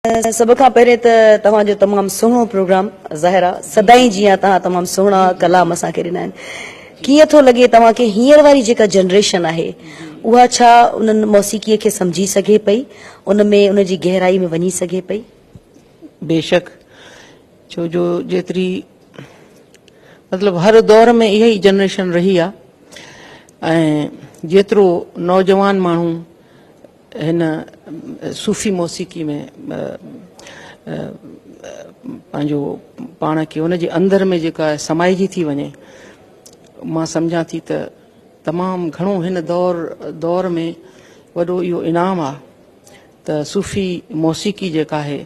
سڀ کان پهرين ته توهان جو تمام سهڻو پروگرام ظاهرا سدائين جيئن توهان تمام سهڻا ڪلام اسان کي ڏنا آهن ڪيئن ٿو لڳي توهان کي هينئر واري جيڪا جنريشن آهي اها ڇا انهن موسيقي کي سمجهي سگهي پئي ان ۾ ان جي گهرائي ۾ وڃي سگهي پئي بيشڪ ڇو جو جيتري مطلب هر دور ۾ اها ئي جنريشن رهي آهي ۽ جيترو نوجوان ماڻهو هن صوفي موسيقي ۾ پنهنجو پاڻ کي ان جي اندر ۾ جيڪا سمائجي ٿي وڃي مان سمجهان ٿي ته تمام گهڻو هن دور دور ۾ وڏو اهو انعام آ ته صوفي موسيقي جيڪا آهي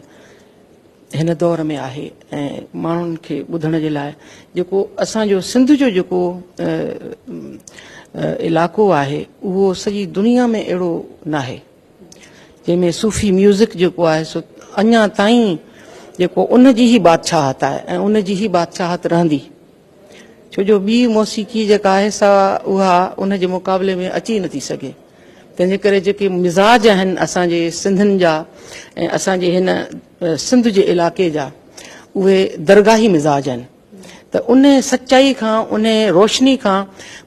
هن دور ۾ آهي ۽ ماڻهن کي ٻڌڻ جي لاء جيڪو اسان جو سنڌ جو جيڪو علائقو آهي اهو سڄي دنيا ۾ اهڙو ناهي جنهن ۾ صوفي ميوزڪ جيڪو آهي سو اڃا تائين جيڪو ان جي هي بادشاهت آهي ۽ ان جي هي بادشاهت رهندي ڇو جو ٻي موسيقي جيڪا آهي سا اها ان جي مقابلي ۾ اچي نه ٿي سگهي. تنهن جي ڪري جيڪي مزاج آهن اسان جي سنڌين جا ۽ اسان جي هن سنڌ جي علائقي جا اهي درگاهي مزاج آهن ته ان سچائي کان ان روشني کان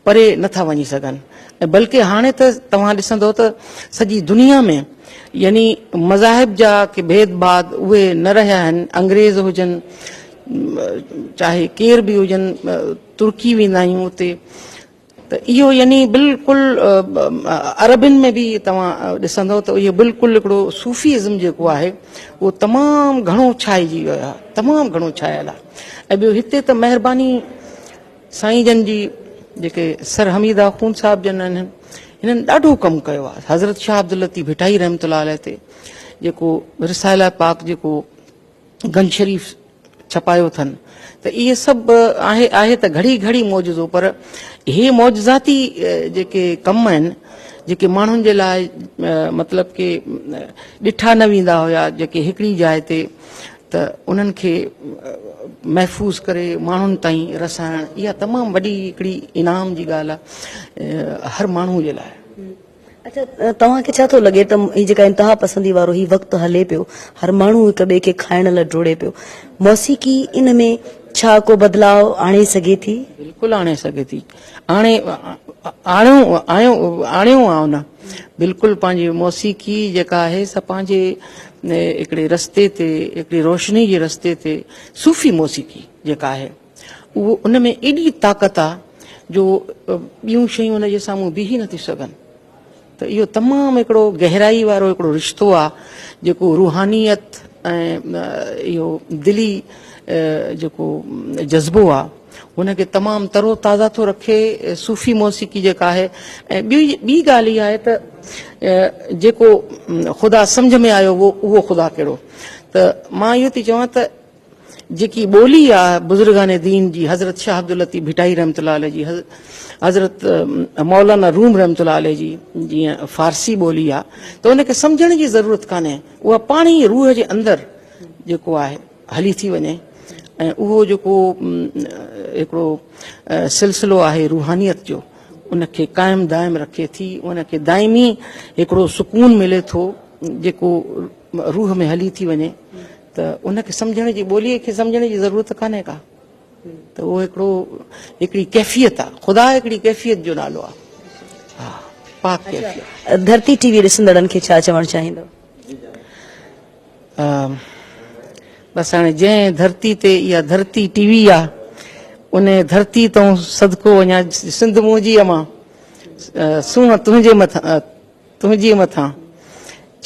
پري نه ٿا وڃي سگهن ۽ بلڪه هاڻي ته توهان ڏسندو ته سڄي دنيا ۾ يعني مذاهب جا ڪي ڀيد ڀاد اهي نه رهيا آهن انگريز هجن چاهي ڪير به هجن ترڪي ويندا آهيون اتي ته اهو يعني بلڪل عربين ۾ به توهان ڏسندو ته اهو بلڪل هڪڙو صوفي ازم جيڪو آهي اهو تمام گهڻو ڇائجي ويو آهي تمام گهڻو ڇايل آهي ۽ ٻيو هتي ته مهرباني سائين جن جي جيڪي سر حميد آخون صاحب جن آهن هنن ڏاڍو ڪم ڪيو آهي حضرت شاهه عبداللطيف ڀٽائي رحمت الله عليه تي جيڪو رساله پاڪ جيڪو گنج شريف ڇپايو اٿن ته اهي سڀ آهي آهي ته گهڙي گهڙي معجزو پر اهي معجزاتي جيڪي ڪم آهن جيڪي ماڻهن جي لاء مطلب ڪي ڏٺا نه ويندا هيا جيڪي هڪڙي جاء تي ته انهن کي محفوظ ڪري ماڻهن تائين رسائڻ اها تمام وڏي هڪڙي انعام جي ڳالهه آهي هر ماڻهو جي لاء اڇا توهان کي ڇا ٿو لڳي ته هي جيڪا انتها پسندي وارو هي وقت هلي پيو هر ماڻهو هڪ ٻئي کي کائڻ لاء ڊوڙي پيو موسيقي ان ۾ ڇا ڪو بدلاء آڻي سگهي ٿي؟ بلڪل آڻي سگهي ٿي آڻي آڻيو آڻيو آ ان بلڪل پنهنجي موسيقي جيڪا آهي سا پنهنجي هڪڙي رستي تي هڪڙي روشني جي رستي تي صوفي موسيقي جيڪا آهي اهو ان ۾ ايڏي طاقت آ جو ٻيون شيون ان جي سامهون بيهي نٿيون سگهن ته اهو تمام هڪڙو گهرائي وارو هڪڙو رشتو آ جيڪو روحانيت ۽ اهو دلي جيڪو جذبو آ ان کي تمام تر و تازه ٿو رکي صوفي موسيقي جيڪا آهي ۽ ٻي ٻي ڳالهه اها آهي ته جيڪو خدا سمجهه ۾ آيو هو اهو خدا ڪهڙو ته مان اهو ٿي چوان ته جيڪي ٻولي آ بزرگان دين جي حضرت شاھ عبداللطيف ڀٽائي رحمة الله عليه جي حضرت مولانا روم رحمة الله عليه جي جي فارسي ٻولي آ ته ان کي سمجھڻ جي ضرورت ڪانهي اها پاڻ ئي روح جي اندر جيڪو آهي هلي ٿي وڃي ۽ اهو جيڪو هڪڙو سلسلو آهي روحانيت جو ان کي قائم دائم رکي ٿي ان کي دائمي هڪڙو سڪون ملي ٿو جيڪو روح ۾ هلي ٿي وڃي ته ان کي سمجهڻ جي ٻوليء کي سمجهڻ جي ضرورت ڪانهي ڪا ته اهو هڪڙو هڪڙي ڪيفيت آ خدا هڪڙي ڪيفيت جو نالو آ ها پاڪ ڪيفيت ڌرتي ٽي وي ڏسندڙن کي ڇا چوڻ چاهيندو بس هاڻي جنهن ڌرتي تي اها ڌرتي ٽي وي آ ان ڌرتي تون صدقو وڃان سنڌ منهنجي امان سونهن تنهنجي مٿان تنهنجي مٿان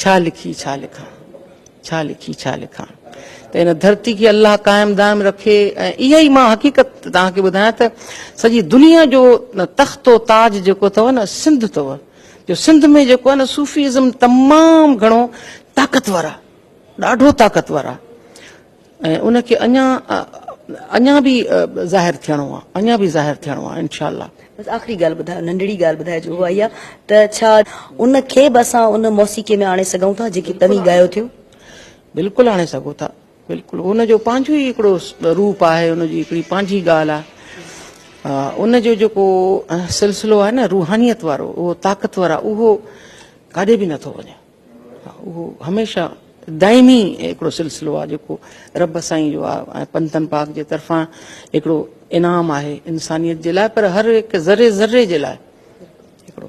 ڇا لکي ڇا لکان ڇا لکي ڇا لکان ته هن ڌرتي کي الله قائم دائم رکي ۽ اها ئي مان حقيقت توهان کي ٻڌايان ته سڄي دنيا جو تخت و تاج جيڪو اٿو نه سنڌ اٿو جو سنڌ ۾ جيڪو نه صوفي ازم تمام گھڻو طاقتور آ ڏاڍو طاقتور آ ۽ ان کي اڃا اڃا به ظاهر ٿيڻو آ اڃا به ظاهر ٿيڻو آ انشاء الله. بس آخري ڳالهه ٻڌايو ننڍڙي ڳالهه ٻڌائجو اها اها ته ڇا ان کي به اسان ان موسيقي ۾ آڻي سگهون ٿا جيڪي توهين ڳايو ٿيون؟ بلڪل آڻي سگهو ٿا بلڪل ان جو پنهنجو ئي هڪڙو روپ آهي ان جي هڪڙي پنهنجي ڳالهه آ ان جو جيڪو سلسلو آهي نه روحانيت وارو اهو طاقتور آ اهو ڪاڏي به نٿو وڃي. اهو هميشه دائمي هڪڙو سلسلو آهي جيڪو رب سائين جو آهي ۽ پنتن پاڪ جي طرفان هڪڙو انعام آهي انسانيت جي لاء پر هر هڪ ذري ذري جي لاء هڪڙو